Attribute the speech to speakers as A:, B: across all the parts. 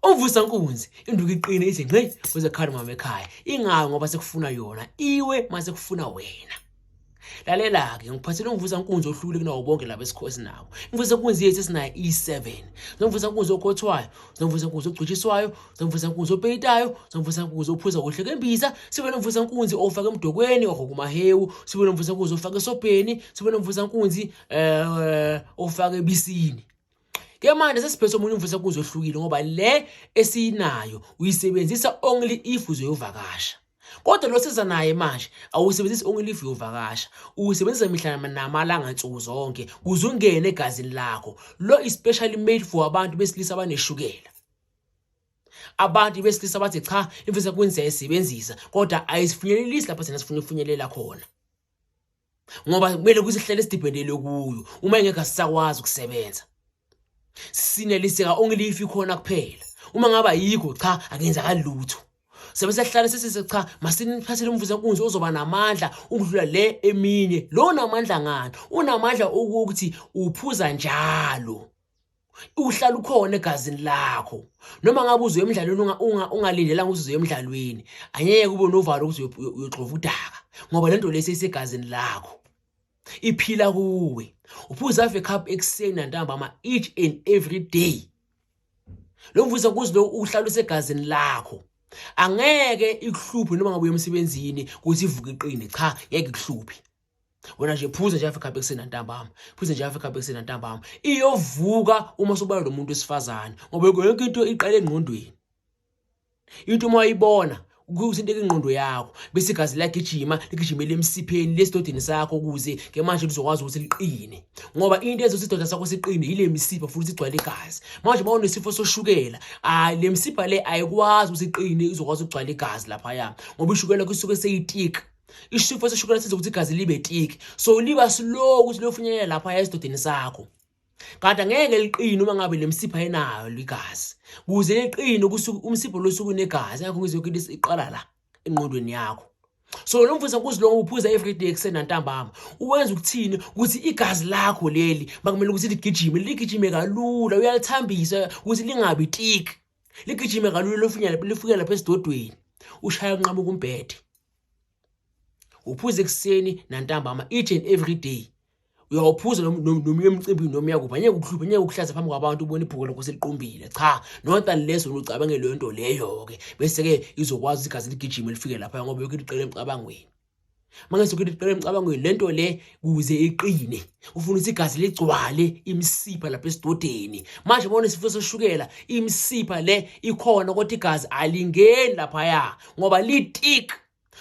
A: Uvusa nkunzi induku iqine ithi ngqi uze khani mama ekhaya ingayo ngoba sekufuna yona iwe mase kufuna wena lalela-ke ngikuphathele umvusa nkunzi ohlukile kunawo bonke laba esikhosi nabo imvusa nkunzi yethu esinayo iyi-seven zomvusa nkunzi okhothwayo zomvusa nkunzi ogcutshiswayo zomvusa nkunzi opeyitayo zomvusa nkunzi ophuza kuhle kembisa sibe nomvusa nkunzi ofake emdokweni ohokumahewu sibe nomvusa nkunzi ofake esobheni sibe nomvusa nkunzi um ofake ebisini ke manje sesiphethe omunye umfisa kuzwe ohlukile ngoba le esinayo uyisebenzisa only if uzoyovakasha kodwa lo siza naye manje awusebenzisi only if uyovakasha uyisebenzisa mihla namalanga nsuku zonke kuze ungene egazini lakho lo is specially made for abantu besilisa abaneshukela abantu besilisa bathi cha imfisa kwenza isebenzisa kodwa ayisifinyelelisi lapho thina sifuna ukufinyelela khona ngoba kumele kusihlele sidibhendelwe kuyo uma engeke asisakwazi ukusebenza sineliseka onke lifi khona kuphela uma ngaba yikho cha akenzakali lutho sebe sehlale sesise cha masiniphathele umvuzo kunzi ozoba namandla ukudlula le eminye lo namandla ngani unamandla ukuthi uphuza njalo uhlala ukhona egazini lakho noma ngabe uzoya emdlalweni ungalindelanga ukuthi uzoya emdlalweni angeke kube novalo ukuthi uyogxova udaka ngoba le nto le seyisegazini lakho iphila kuwe uphuza ave cup ekuseni nantambama each and every day lo mvuza kuzi lo uhlala usegazini lakho angeke ikuhluphe noma ngabe uye emsebenzini ukuthi ivuke iqine cha ngeke ikuhluphe wena nje phuze nje afika bekuseni ntambama phuze nje afika bekuseni ntambama iyovuka uma sobala lo muntu wesifazane ngoba yonke into iqala engqondweni into uma uyibona kuthinteka ingqondo yakho bese igazi liyagijima ligijimele emsipheni lesidodeni sakho ukuze ke manje lizokwazi ukuthi liqine ngoba into ezothi isidoda sakho siqine yile misipha futhi sigcwale igazi manje uma unesifo soshukela hayi le misipha le ayikwazi ukuthi iqine izokwazi ukugcwala igazi laphaya ngoba ishukela kusuke seyitika isifo seshukela senza ukuthi igazi libe tiki so liba slow ukuthi lofinyelela lapha esidodeni sakho kanti angeke liqine uma ngabe lemsipha enayo ligazi kuze liqine umsipho losuku negazi ngakho ngizwe ukuthi iqala la enqondweni yakho so lo mfundisi akuzilonga uphuza everyday ekuseni nantambama uwenza ukuthini ukuthi igazi lakho leli makumele ukuthi ligijime ligijime kalula uyalithambisa ukuthi lingabi tiki ligijime kalula lifunyela lifuke lapha esidodweni ushaya kunqamuka umbhede uphuza ekuseni nantambama each and every day uyawuphuza noma emcimbini noma uyakuphi anyeke ukuhlupha anyeke ukuhlaza phambi kwabantu ubona ibhuku lakho seliqumbile cha not unless wena ucabangele leyo nto leyo-ke bese-ke izokwazi ukuthi igazi ligijime lifike lapha ngoba yokho iliqela emcabangweni uma ngethi yokho iliqela emcabangweni le nto le kuze iqine ufuna ukuthi igazi ligcwale imisipha lapha esidodeni manje bona isifo soshukela imisipha le ikhona kodwa igazi alingeni laphaya ngoba litik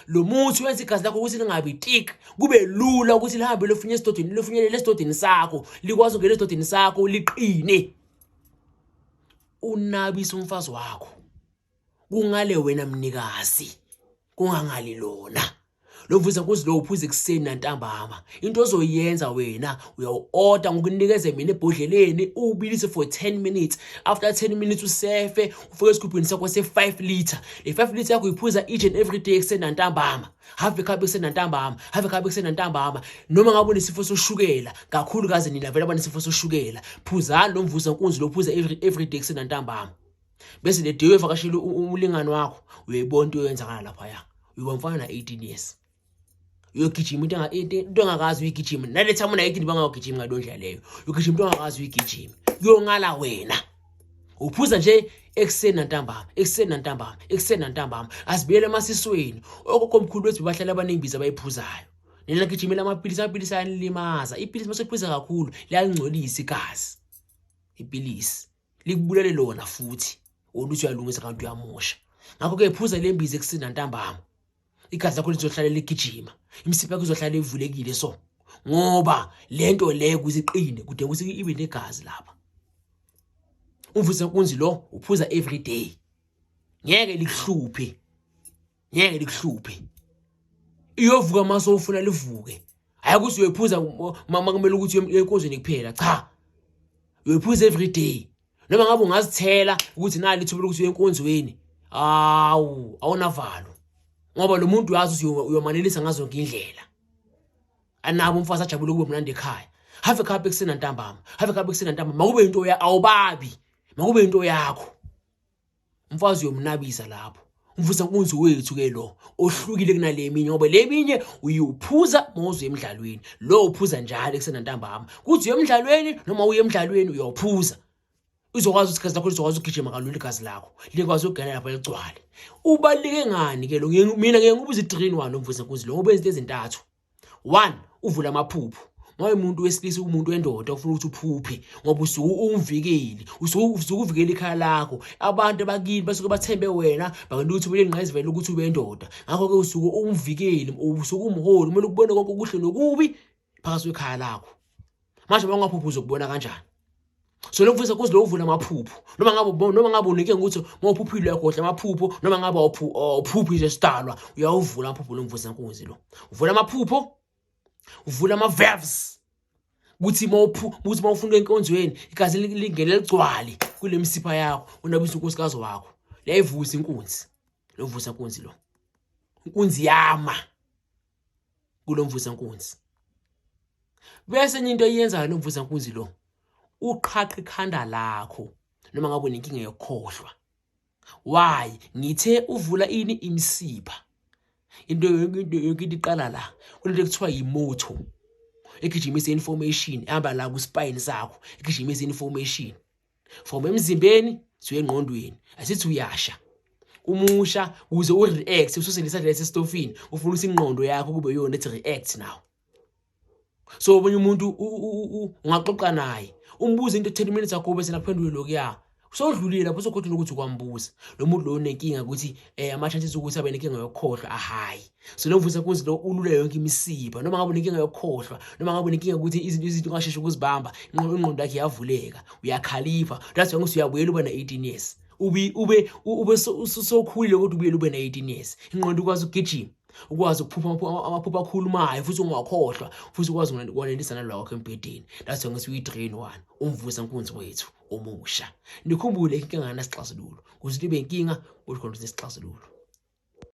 A: lo muthi wenza igazi lakho ukuthi lingabi tik kube lula ukuthi lihambe lofunye esidodeni lofunyelele esidodeni sakho likwazi ukungena esidodeni sakho liqine unabisa umfazi wakho kungale wena mnikazi kungangali lona lovuza kuzilowo uphuza ekuseni nantambama into ozoyenza wena uyawu-oda ngokunikeze mina ebhodleleni uwubilise for 10 minutes after 10 minutes usefe ufike esigubhini sakho se-5 litre le 5 litre yakho uyiphuza each and every day ekuseni nantambama have ekhabe ekuseni nantambama have ekhabe ekuseni nantambama noma ngabe unesifo soshukela kakhulukazi nina vele abanesifo soshukela phuzani lo mvuza nkunzi lophuza every, every day ekuseni nantambama bese the day uyevakashela umlingani wakho uyayibona into yoyenzakala lapha ya uyiba mfana na 18 years uyogijima into into engakazi uyigijima nale time una 18 bangayogijima ngalo ndlela leyo uyogijima into engakazi uyigijima kuyongala wena uphuza nje ekuseni nantambama ekuseni nantambama ekuseni nantambama asibuyele emasisweni okokho mkhulu wethu bahlala abaningi biza bayiphuzayo nina gijimela amapilisi amapilisi ayanilimaza ipilisi masephuza kakhulu liyalingcolisa igazi ipilisi likubulele lona futhi oluthi uyalungisa kanti uyamosha ngakho-ke phuza le mbizi ekusinda ntambama igazi lakho lizohlale ligijima imisipha yakho izohlale ivulekile so ngoba le nto le kuze iqine kudinga ukuthi ibe negazi lapha umvusa kunzi lo uphuza every day ngeke likuhluphe ngeke likuhluphe iyovuka mase ufuna livuke hayi ukuthi uyoyiphuza mama kumele ukuthi uyenkonzweni kuphela cha uyoyiphuza every day noma ngabe ungazithela ukuthi nali ithuba lokuthi uyenkonzweni awu awunavalo ngoba lo muntu uyazi ukuthi uyomanelisa ngazo zonke indlela anabo umfazi ajabule kube mnandi ekhaya have a cup ekuseni ntambama have a cup ekuseni ntambama makube into ya awubabi makube into yakho Umfazi uyomnabisa lapho. Umvusa nkunzi wethu ke lo ohlukile kunaleminye ngoba leminye uyuphuza mawuze emidlalweni. Lo uphuza njalo ekusena ntambama. Kuthi uyemidlalweni noma uye emidlalweni uyophuza. Uzokwazi ukuthi gazi lakho lizokwazi ukugijima kalula igazi lakho. Likwazi ukugana lapha ligcwale. Ubalike ngani ke lo mina ngeke ngibuze 3 in 1 umvusa nkunzi lo obenza izintathu. one uvula amaphupho ngoba umuntu wesilisa umuntu wendoda ufuna ukuthi uphuphe ngoba usuke umvikeli usuke uvikela ikhaya lakho abantu abakini basuke bathembe wena bakwenza ukuthi ube nqayizivela ukuthi ube indoda ngakho-ke usuke umvikeli usuke umholi kumele ukubone konke okuhle nokubi phakathi kwekhaya lakho manje bangaphupha uzokubona kanjani so lokufisa kuze lokuvula amaphupho noma ngabe noma ngabe unike ukuthi mawuphuphile yakhohle amaphupho noma ngabe awuphuphi nje sidalwa uyawuvula amaphupho lomvusa nkunzi lo uvula amaphupho uvula ama verbs ukuthi mawuphu ukuthi mawufuna enkonzweni igazi lingene ligcwale kulemisipha yakho unabisa unkosikazi wakho leyivusa inkunzi lovusa inkunzi lo inkunzi yama kulomvuzankunzi bese enye into eyenzayo lomvuzankunzi lo uqhaqha ikhanda lakho noma ngabe unenkinga yokukhohlwa why ngithe uvula ini imsipha into yonke into yonke into iqala la kunento ekuthiwa yimoto egijimisa information ehamba la ku spine sakho egijimisa information from emzimbeni siye engqondweni asithi uyasha umusha uze ureact ususe lesadress estofini ufuna usingqondo yakho kube yona ethi react now so omunye umuntu ungaxoxa naye umbuze into 10 minutes ago bese nakuphendule lokuya sodlulile lapho sokhothi nokuthi ukwambuza lo muntu lo unenkinga ukuthi eh ama chances ukuthi abe nenkinga yokukhohlwa ahayi Silovusa kuze lo ulule yonke imisipha noma ngabe unenkinga yokukhohlwa noma ngabe unenkinga ukuthi izinto izinto ungasheshe ukuzibamba ingqondo yakhe yavuleka uyakhalipha that's why ngisuya buyela uba na 18 years ube ube ube ususokhulile kodwa ubuyela ube na 18 years ingqondo ukwazi ukugijima ukwazi ukuphupha amaphupha akhulumayo futhi ungakhohlwa futhi ukwazi ukwanelisana lwakho embhedeni that's why ngisuyi drain one umvusa nkunzi wethu omusha nikhumbule inkinga ngasixazululo kuze ibe inkinga ukhona ukuthi isixazululo